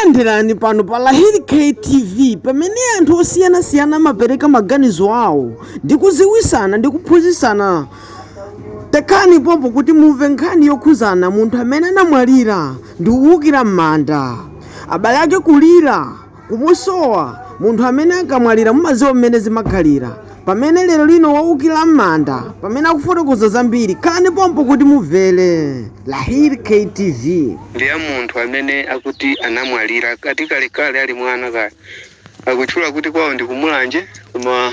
Landirani pano pa Lahir K TV pamene anthu osiyanasiyana amapereka maganizo awo ndi kuziwisana ndi kuphunzitsana. Khalani pompo kuti mumve nkhani yokhuzana munthu amene anamwalira ndi kuwukira m'manda. Abale ake kulira, kumusowa, munthu amene akamwalira mumadziwa mmene zimakhalira. Pamene lero lino waukila m'manda pamene akufotokoza zambiri khalani pompo kuti mumvere. Lahir K TV. ndi ya munthu amene akuti anamwalira ati kalekale ali mwana kaya. Akutchula kuti kwawo ndi ku Mulanje koma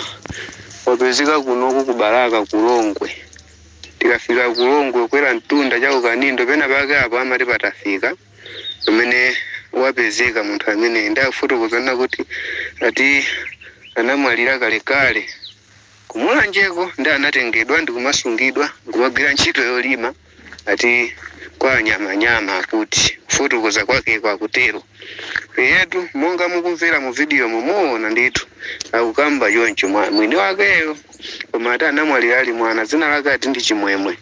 wapezeka kuno ku Balaka ku Longwe. Tikafika ku Longwe kukwera mtunda cha ku Kanindo penapake apo amati patafika. pamene wapezeka munthu ameneyi ndi akufotokoza kuti ati anamwalira kalekale kumulanjeko ndi anatengedwa ndi kumasungidwa nkumagwira ntchito yolima ati kwa anyamanyama akuti kufotokoza kwakeko akutero eyetu monga mukumvera mu vidiyo mumuona ndithu akukamba choncho mwa- mwini wakeyo koma ati anamwalira ali mwana dzina lake ati ndi chimwemwe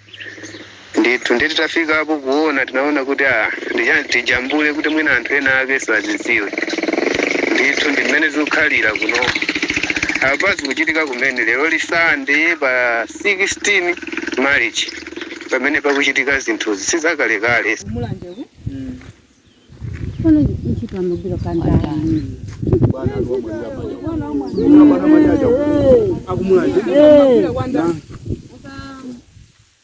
Ndithu. Ndiye titafikapo kuona tinaona kuti ah, ndi chani tijambule kuti mwina anthu ena akenso azidziwe. Ndithu ndi mmene zikukhalira kunoko. Apa zikuchitika kumene lero la Sunday pa 16 March pamene pakuchitika zinthuzi si zakalekale. kumulanjeku Ono ntchito amagwira kandani. akumulanje Eh. kwanda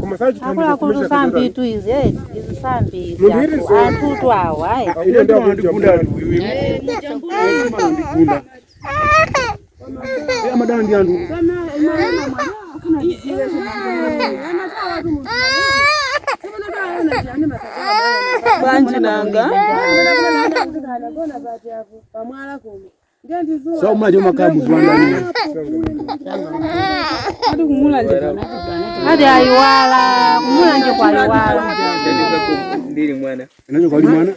Koma sachi akuluakulu sambi tu izi eh, izi sambi izi Munthu iri anthu- so- anthu tu awa ayi Ine ndio andigunda ali uyu. Yeye andigunda. Yeye amadana ndi anthu. banji nanga pamwala kuno So mali umakhala muziwangalira. Ati ayiwala kumulanje kwa ayiwala Ndili mwana. Ndinachoka mwana.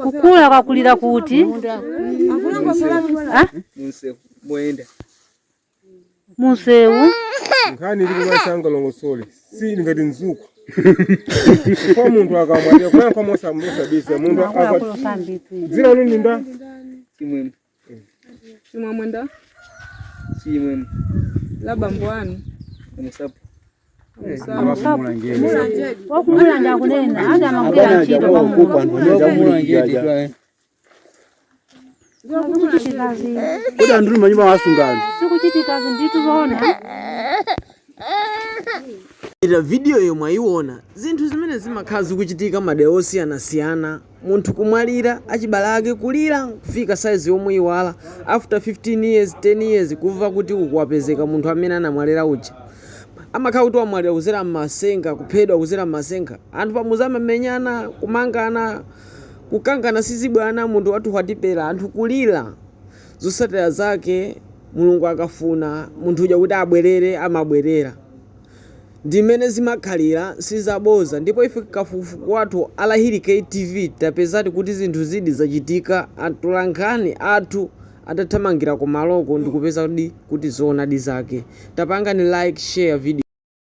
kukula kwakulira kuti Munsewu. Moyenda. munsewu nkhani ili kumatsenga longosole si ngati mzuku kwa munthu akamwalira kuyankha mosamosabisa munthu aka- dzina lanu ndi ndani chimwemwe chimwemwe ndani chimwemwe la bambo anu amusapo wakumulanje kunena ati amagwira ntchito pamunthu Zikuchitikazi. Kodi anthu ndi manyumba asungani. Zikuchitikazi ndithu zoona. ira video yomwe mwayiona zinthu zimene zimakhala zikuchitika madera osiyanasiyana munthu kumwalira achibale ake kulira kufika saizi yomuiwala after 15 years 10 years kumva kuti uku wapezeka munthu amene anamwalira uja amakhala kuti wamwalira kuzera mmasenga kuphedwa kuzera mmasenga anthu pamuzi amamenyana kumangana Kukangana sizibwana munthu wathu atapeza anthu kulila zotsatila zake mulungu akafuna munthu uja kuti abwelele amabwelela ndimene zimakhalila sizaboza ndipo ife kafukufuku wathu R Hilly Kay TV tapezadi kuti zinthuzidi zachitika atolankhani athu atathamangila kumaloko ndikupezadi kuti zoonadi zake tapangani like share video.